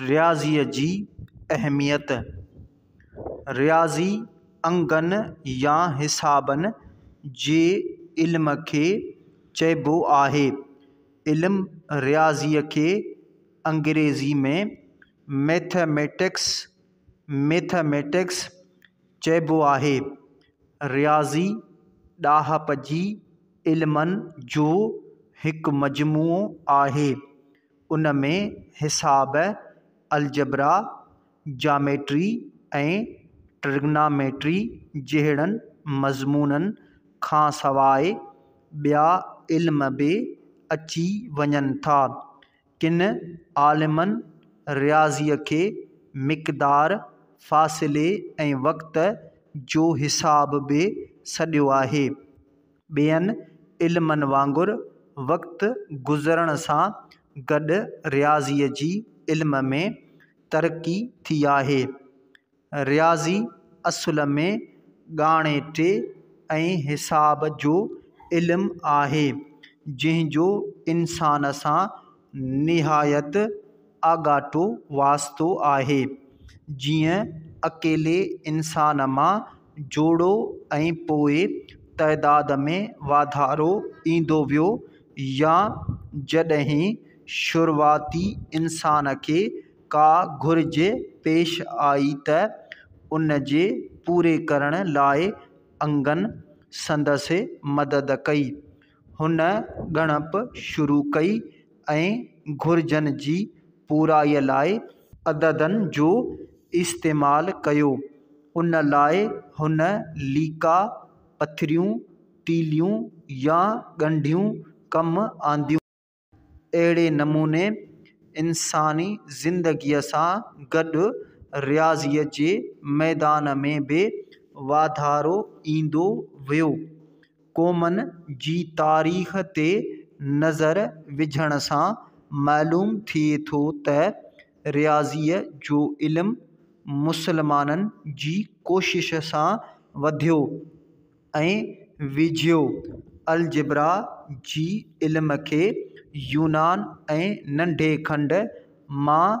رياضيء جي اهميت، رياضي انگن يا حسابن جي علم کي چئبو آهي. علم رياضيء کي انگريزيء ۾ Mathematics، ميٿميٽڪس، چئبو آهي. رياضي ڏاهپ جي علمن جو هڪ مجموعو آهي. ان ۾ حساب، الجبرا، جاميٽري ۽ ٽرگناميٽري جهڙن مضمونن کان سواء ٻيا علم به اچي وڃن ٿا. ڪن عالمن رياضيء کي مقدار، فاصلي ۽ وقت جو حساب به سڏيو آهي. ٻين علمن وانگر وقت گذرڻ سان گڏ رياضيء جي علم ۾ ترقي ٿي آهي. رياضي اصل ۾ ڳاڻيٽي ۽ حساب جو علم آهي جنهن جو انسان سان نهايت آڳاٽو واسطو آهي، جيئن اڪيلي انسان مان جوڙو ۽ پوء تعداد ۾ واڌارو ايندو ويو يا جڏهن شروعاتي انسان کي ڪا گهرج پيش آئي ته ان جي پوري ڪرڻ لاء انگن سندس مدد ڪئي. هن ڳڻپ شروع ڪئي ۽ گهرجن جي پورائيء لاء عددن جو استعمال ڪيو. ان لاء هن ليڪا، پٿريون، تيليون يا ڳنڍيون ڪم آنديون. اهڙي نموني انساني زندگيء سان گڏ رياضيء جي ميدان ۾ به واڌارو ايندو ويو. قومن جي تاريخ تي نظر وجهڻ سان معلوم ٿئي ٿو ته رياضيء جو علم مسلمانن جي ڪوشش سان وڌيو. ۽ ويجهيو الجبرا جي علم کي يونان ۽ ننڍي کنڊ مان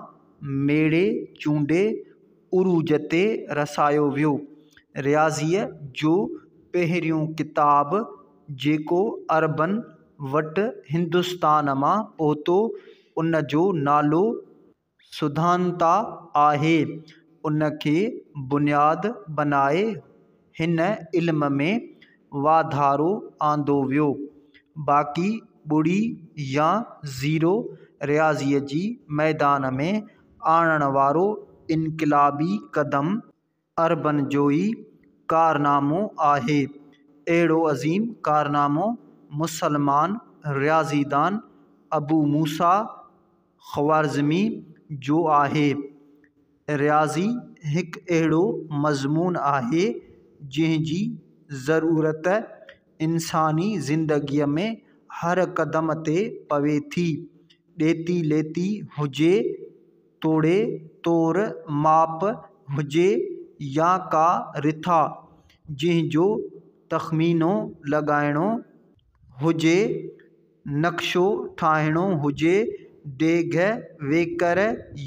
ميڙي چونڊي عروج تي رسايو ويو. رياضيء جو پهريون ڪتاب جيڪو عربن وٽ هندستان مان پهتو ان جو نالو سڌانتا آهي ان کي بنياد بنائي هن علم ۾ واڌارو آندو ويو باقي ٻڙي يا زيرو رياضيء جي ميدان ۾ آڻڻ وارو انقلابي قدم عربن جو ئي ڪارنامو آهي. اهڙو عظيم ڪارنامو مسلمان رياضي دان ابو موسيٰ خوارزمي جو آهي. رياضي هڪ اهڙو مضمون آهي، جنهن جي ضرورت انساني زندگيء ۾ هر قدم تي پوي ٿي، ڏيتي ليتي هجي، توڙي طور ماپ هجي يا ڪا رٿا جنهن جو تخمينو لڳائڻو هجي، نقشو ٺاهڻو هجي، ڊيگهه ويڪر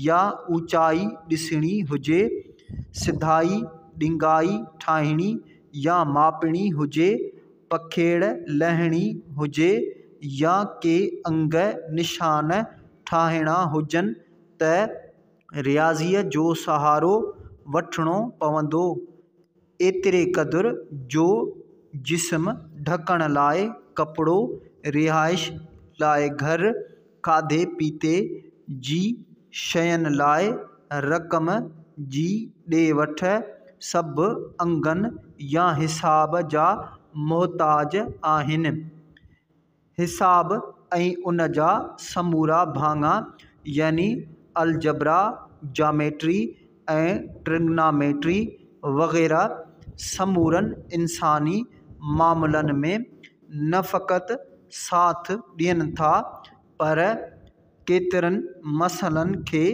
يا اوچائي ڏسڻي هجي، سڌائي ڏنگائي ٺاهڻي يا ماپڻي هجي، پکيڙ لهڻي هجي يا ڪي انگ نشان ٺاهڻا هجن ته رياضيء جو سهارو وٺڻو پوندو، ايتري قدر جو جسم ڍڪڻ لاء ڪپڙو، رهائش لاء گهر، کاڌي پيتي جي شين لاء رقم جي ڏي وٺ، سڀ انگن يا حساب جا محتاج آهن. حساب ۽ ان جا سمورا ڀاڱا يعني الجبرا، جاميٽري ۽ ٽرگناميٽري وغيره سمورن انساني معاملن ۾ نه فقط ساٿ ڏين ٿا پر ڪيترن مسئلن کي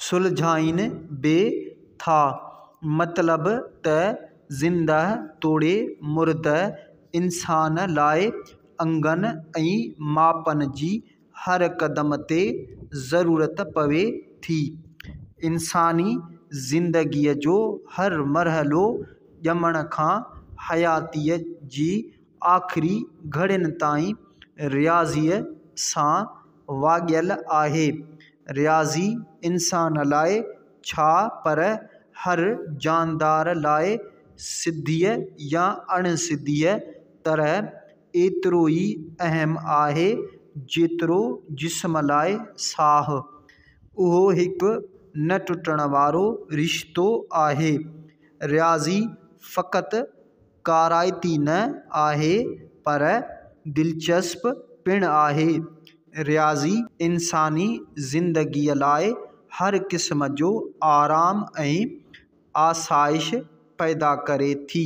سلجهائين به ٿا. مطلب ته زندهه توڙي مرده انسان لاء انگن ۽ ماپن جي هر قدم تي ضرورت پوي ٿي. انساني زندگيء جو هر مرحلو ڄمڻ کان حياتيء جي آخري گهڙين تائين رياضيء سان واڳيل آهي. رياضي انسان لاء ڇا پر هر جاندار لاء سڌيء يا اڻ سڌيء طرح ايترو ئي اهم آهي جيترو جسم لاء ساهه. اهو هڪ نه ٽٽڻ وارو رشتو آهي. رياضي فقط ڪارائتي نه آهي پر دلچسپ پڻ آهي. رياضي انساني زندگيء لاء هر قسم جو آرام ۽ آسائش پيدا ڪري ٿي.